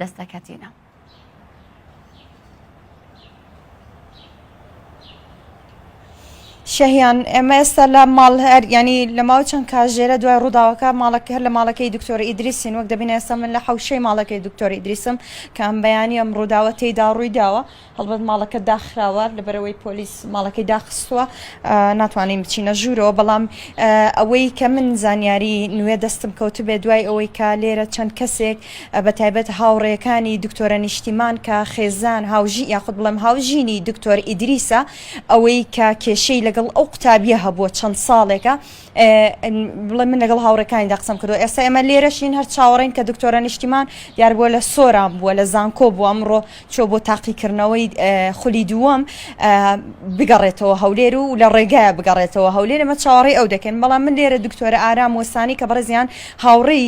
دەستەکەتینە. شەهیان ئێمە ئێستا لە ماڵ هەر ینی لە ماوە چەند کاژێرە دوای ڕووداوەکە ماڵەکە هەر لە ماڵەکەی دکتۆر ئیدریسین وەک دەبین ئێستا من لە حوشەی ماڵەکەی دکتۆری ئیدریسم کە ئەم بەیانی ئەم ڕووداوە تێدا ڕووی داوە هەڵبەت ماڵەکە داخراوە لەبەرەوەی پۆلیس ماڵەکەی داخستووە ناتوانین بچینە ژوورەوە بەڵام ئەوەی کە من زانیاری نوێ دەستم کەوتبێ دوای ئەوەی کا لێرە چەند کەسێک بە تایبەت هاوڕێەکانی دکتۆرە نیشتیمان کە خێزان هاوژی یاخود بڵێم هاوژینی دکتۆر ئیدریسە ئەوەی کە کێشەی لەگەڵ ئەو قوتابیە هەبووە چەند ساڵێکە بڵێ من لەگەڵ هاوڕێکانیدا قسەم کردو ئێستا ئێمە لێرەشین هەر چاوەڕین کە دکتۆرە نیشتیمان دیار بووە لە سۆران بووە لە زانکۆ بووە ئەمڕۆ چۆ بۆ تاقیکردنەوەی خولی دووەم بگەڕێتەوە هەولێر و لە ڕێگایە بگەڕێتەوە هەولێر ئەمە چاوەڕێ ئەو دەکەن بەڵام من لێرە دکتۆرە ئارام وەسانی کە بەڕێزیان هاوڕێی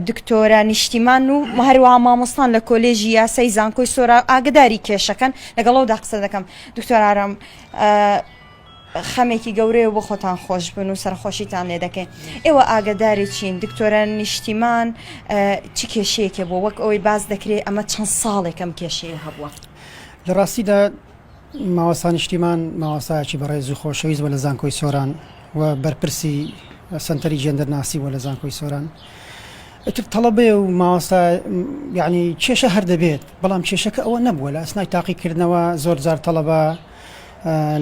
دکتۆرە نیشتیمان و هەروەها مامۆستان لە کۆلێژی یاسای زانکۆی سۆرا ئاگداری کێشەکەن لەگەڵەوەدا قسە دەکەم دکتۆر ئارام خەمێکی گەورەیە و بۆ خۆتان خۆشبن و سەرەخۆشیتان لێ دەکەین. ئێوە ئاگەداری چین دکتۆرە نیشتیمان چ کێشەیەکی هەبووە؟ وەک ئەوەی باس دەکرێ ئەمە چەند ساڵێکە ئەم کێشەیە هەبووە. لە ڕاستیدا مامۆستا نیشتیمان مامۆستایەکی بەڕێز و خۆشەویست بووە لە زانکۆی سۆران و بەرپرسی سەنتەری جێندەرناسی بووە لە زانکۆی سۆران. ئیتر تەڵەبەیە و مامۆستا یعنی کێشە هەر دەبێت، بەڵام کێشەکە ئەوە نەبووە لە ئەسنای تاقیکردنەوە زۆرجار تەڵەبە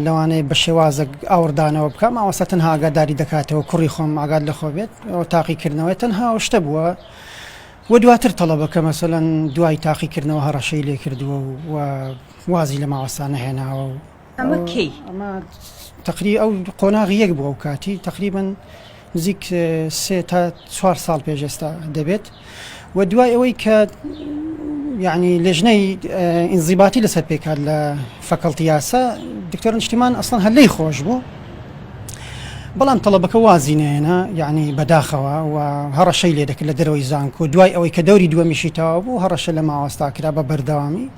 لەوانەیە بە شێوازێک ئاوڕدانەوە بکە ماوەستا تەنها ئاگاداری دەکاتەوە کوڕی خۆم ئاگات لە خۆ بێت ئەو تاقیکردنەوەی تەنها ئەو شتە بووە و دواتر تەڵەبەکە مەسەەن دوای تاقیکردنەوە هەڕەشەی لێ کردووە و وازی لە ماوەستا نەهێناوە و ئەمە کەی ئەمە تقری ئەو قۆناغی یەک بووە و کاتی تقریبن نزیک سێ تا چوار ساڵ پێش ئێستا دەبێت و دوای ئەوەی کە یعنی لێژنەی ئینزیباتی لەسەر پێکات لە فەکەڵتی یاسا دکتۆر نیشتیمان ئەسڵەن هەلەی خۆش بوو بەڵام تەڵەبەکە وازی نێنە یعنی بەداخەوە و هەڕەشەی لێ دەکرد لە دەرەوەی زانکۆ دوای ئەوەی کە دەوری دووەمیشی تەوا بوو هەڕەشە لە ماوەستا کرا بە بەردەوامی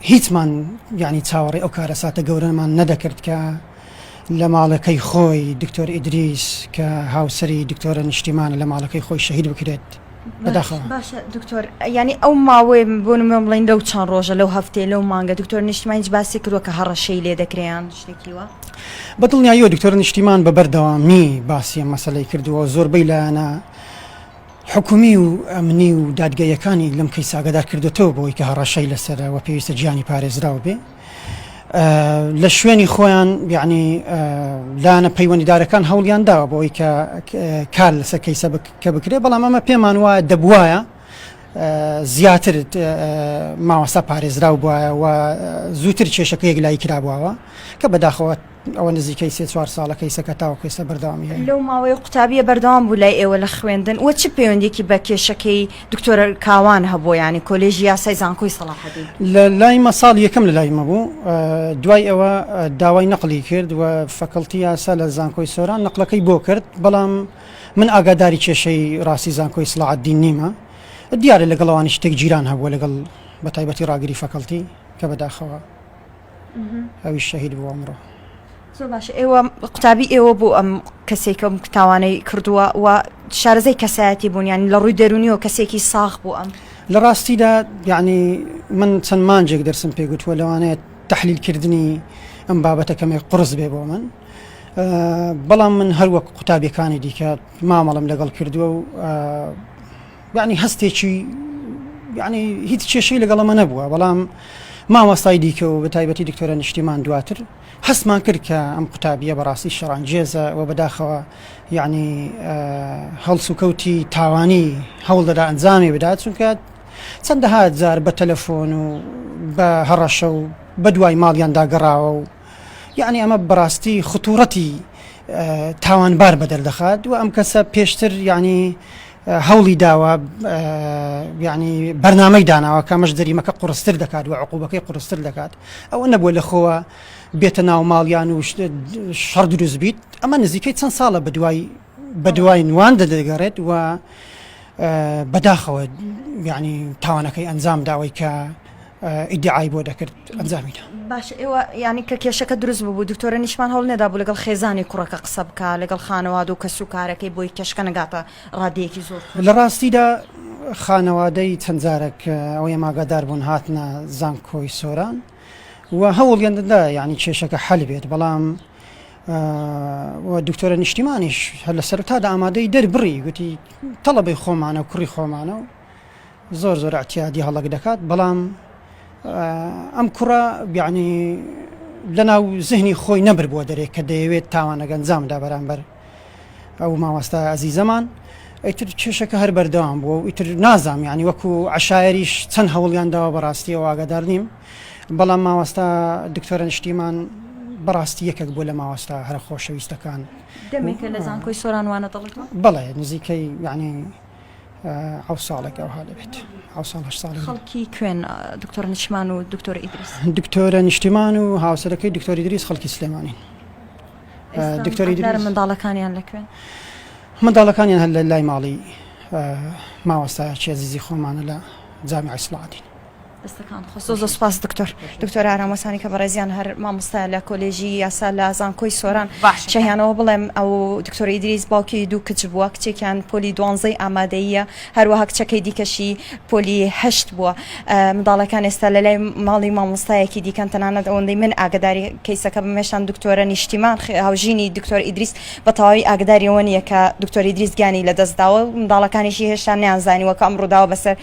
هیچمان یانی چاوەڕێی ئەو کارەساتە گەورەمان نەدەکرد کە لە ماڵەکەی خۆی دکتۆر ئیدریس کە هاوسەری دکتۆرە نیشتیمانە لە ماڵەکەی خۆی شەهید بکرێت بەداخەوە. باشە دکتۆر یانی ئەو ماوەیە بۆ نموونە بڵێین لەو چەند ڕۆژە لەو هەفتەیە لەو مانگە دکتۆرە نیشتیمان هیچ باسی کردووە کە هەڕەشەی لێ دەکرێ یان شتێکی وا؟ بە دڵنیاییەوە دکتۆرە نیشتیمان بە بەردەوامی باسی ئەم مەسەلەی کردووە و زۆربەی لایەنە حکومی و ئەمنی و دادگاییەکانی لەم کەیسە ئاگادار کردۆتەوە بەوەی کە هەڕەشەی لەسەرە و پێویستە گیانی پارێزراو بێ لە شوێنی خۆیان یعنی لایەنە پەیوەندیدارەکان هەوڵیان داوە بەوەی کە کار لەسەر کەیسە کە بکرێ بەڵام ئەمە پێمان وایە دەبواە زیاتر ماوەسا پارێزراو بواە و زووتر کێشەکە یەک لای کرابواوە کە بەداخەوە ئەوە نزیکەی سێ چوار ساڵە کەیسەکە تاوەکو ئێستا بەردەوامی هەیە. لەو ماوەیە قوتابیە بەردەوام بوو لای ئێوە لە خوێندن و چ پەیوەندیەکی بە کێشەکەی دکتۆر کاوان هەبووە یانی کۆلێژی یاسای زانکۆی سەڵاحەدین؟ لە لای مە ساڵ یەکەم لە لای مە بوو دوای ئەوە داوای نەقڵی کرد و فەکەڵتی یاسا لە زانکۆی سۆران نەقلەکەی بۆ کرد بەڵام من ئاگاداری کێشەی ڕاستی زانکۆی سڵاعدین نیمە دیارە لەگەڵ ئەوانی شتێک جیران هەبووە لەگەڵ بە تایبەتی ڕاگری فەکەڵتی کە بەداخەوە ئەویش شەهید بوو ئەمڕۆ زۆر باشە ئێوە قوتابی ئێوە بۆ ئەم کەسێکم تاوانەی کردووە و شارەزای کەسایەتی بوونیان لە ڕووی دەرونیەوە کەسێکی ساخ بوو ئەم لە ڕاستیدا یعنی من چەند مانجێک دەرسم پێگوتووە لەوانەیە تحلیلکردنی ئەم بابەتەکەمێک قرس بێ بۆ من بەڵام من هەروەک قوتابیەکانی دیکە مامەڵم لەگەڵ کردووە و یانی هەستێکی یانی هیچ کێشەی لەگەڵ ئەمە نەبووە بەڵام مامۆستای دیکە و بە تایبەتی دکتۆرە نیشتیمان دواتر هەستمان کرد کە ئەم قوتابیە بەڕاستی شەڕانگێزە و بەداخەوە یعنی هەڵس و کەوتی تاوانی هەوڵ دەدا ئەنجامی بدات چونکە چەندەها جار بە تەلەفۆن و بە هەڕەشە و بە دوای ماڵیان داگەڕاوە و یعنی ئەمە بەڕاستی خطوڕەتی تاوانبار بەدەردەخات و ئەم کەسە پێشتر یعنی هەوڵی داوە یعنی بەرنامەی داناوە کەمەش دەریمەکە قڕستر دەکات و عقوبەکەی قڕستر دەکات ئەوە نەبووە لە خۆوە بێتە ناو ماڵیان و شەڕ دروست بیت ئەمە نزیکەی چەند ساڵە بە دوای بە دوای نوان دەدەگەڕێت و بەداخەوە یعنی تاوانەکەی ئەنجام داوای کە ئیدعای بۆ دەکرد ئەنجامی دا. باشە ئێوە یانی کە کێشەکە دروست ببوو دکتۆرە نیشمان هەوڵ نەدابوو لەگەڵ خێزانی کوڕەکە قسە بکا لەگەڵ خانەوادە و کەس و کارەکەی بۆی کێشکە نەگاتە ڕادەیەکی زۆر لە ڕاستیدا خانەوادەی چەند جارێک ئەوەی ماگادار بوون هاتنە زانکۆی سۆران و هەوڵیان دەدا یعنی کێشەکە حەل بێت بەڵام دکتۆرە نیشتیمانیش هەر لە سەرتادا ئامادەی دەربڕی گوتی تەڵەبەی خۆمانە و کوڕی خۆمانە و زۆر زۆر اعتیادی هەڵەک دەکات بەڵام ئەم کوڕە یەعنی لەناو زهنی خۆی نەبربووە دەرێ کە دەیەوێت تاوانەکە ئەنجامدا بەرامبەر ئەو مامۆستا ئازیزەمان ئیتر کێشەکە هەر بەردەوام بووە و ئیتر نازام یعنی وەکو عشاعریش چەند هەوڵیان داوە بەڕاستی واگەدار نیم بەڵام ماوەستا دکتۆرە نیشتیمان بەڕاستی یەکێک بوو لە ماوەستا هەرە خۆشەویستەکان دەمێکە لە زانکۆی سۆرانوانە دەڵێت بەڵێ نزیکەی یعنی حەوت ساڵێک ئەوها دەبێت حەوت ساڵ هەشت ساڵ خەڵکی کوێن دکتۆر نیشمان و دکتۆر ئیدریس دکتۆرە نیشتیمان و هاوسەرەکەی دکتۆری دریس خەڵکی سلێمانین دکتۆری دکتۆر منداڵەکانیان لە کوێن منداڵەکانیان هەر لە لای ماڵی ماوەستا چێزیزی خۆمانە لە جامی ئەسڵاتین دەستەکانت خۆش. زۆر زۆر سوپاس دکتۆر دکتۆر ئارام وەسانی کە بەڕێزیان هەر مامۆستا لە کۆلێژی یاسا لە زانکۆی سۆران باش شەهیانەوە بڵێم ئەو دکتۆر ئیدریس باوکی دوو کچ بووە کچێکیان پۆلی دوانزەی ئامادەیە هەروەها کچەکەی دیکەشی پۆلی هەشت بووە منداڵەکان ئێستا لە لای ماڵی مامۆستایەکی دیکەن تەنانەت ئەوەندەی من ئاگداری کەیسەکە بمێشان دکتۆرە نیشتیمان هاوژینی دکتۆر ئیدریس بە تەواوی ئاگداریەوە نیە کە دکتۆری دریس گیانی لە دەستداوە منداڵەکانیشی هێشتا نیان زانیوە کە ئەم ڕووداوە بەسەر